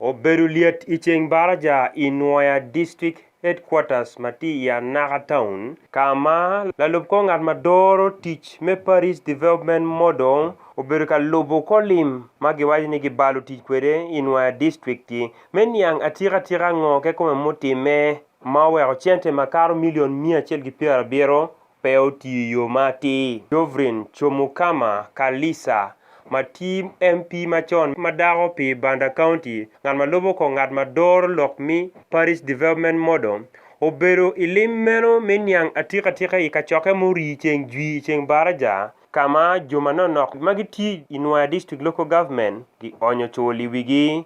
Obedo lyet i ceng baraja i Nwoya District Headquarters ma tye i Anaka Town ka ma lalub kor ngat ma doro tic me Parish Development Model obedo ka lubo kor lim ma giwaco ni gibalo tic kwede i Nwoya District-ti me niang atika tika ngo kekome mutimme ma oweko cente makato milion miya acel ki pyerabiro pe otiyo i yo ma atir. Dovrin Chomukama Kalisa, ma tye MP macon ma dako pi Banda County, ngat ma lubo kong ngat ma doro lok me Parish Development Model, obedo i lim meno me niang atikatika i kacokke ma orii ceng jwi i ceng baraja, ka ma jo manonok ma gitye i Nwoya District Local Government gionyo cul i wigi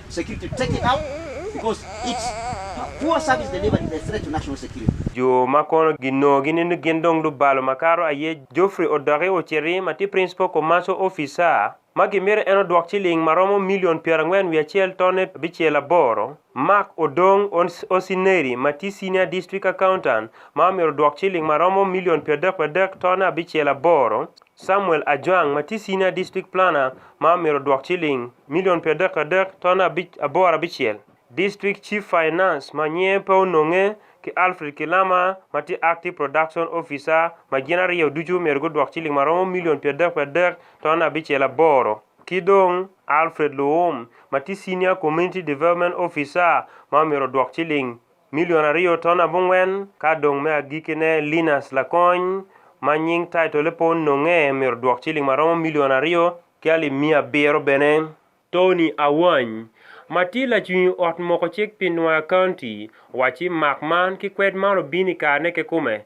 Jo ma kono ginongo ginindo gin dong lubalo makato aye Geoffrey Odoki Oceri ma tye Principal Commercial Officer ma gimito en odwok ciling ma romo milion pyerangwen wiye acel tone abicel aboro, Mark Odong Osineri ma tye Senior District Accountant ma omyero odwok ciling ma romo milion pyeradek pyeradek tone abicel aboro, Samuel Ajwang ma tye Senior District Planner ma omyero odwok ciling milion pi adek adek ton abic aboro abicel, District Chief Finance ma nyinge pe ononge ki Alfred Kilama ma tye Active Production Officer ma gin aryo ducu omyero gudwok ciling ma romo milion pi adek pi adek ton abicel aboro ki dong Alfred Luwum ma tye Senior Community Development Officer ma omyero odwok ciling Milion aryo ton abongwen, ka dong me agikkine Linus Lakony, ma nying taitole pe ononge, myero odwok ciling ma romo milion aryo ki alip miya abiro bene. Tony Awany, ma tye lacwiny ot moko cik pi Nwoya County, owaco ci mak man ki kwed man obino i karene kekome,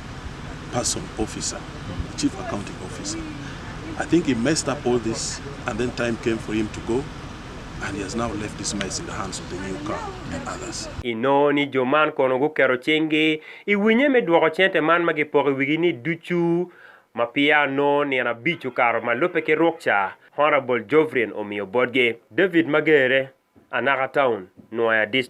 person officer chief accounting officer I think he messed up all this and then time came for him to go and he has now left this mess in the hands of the new car and others. Inongo ni jo man kono guketo cinggi i winye me dwoko cente man ma gipoko i wigi ni ducu ma peya onongo nino abic okato ma lubbe ki ruk ca Honourable Jovrin omiyo botgi. David Magere, Anaka Town, Nwoya District.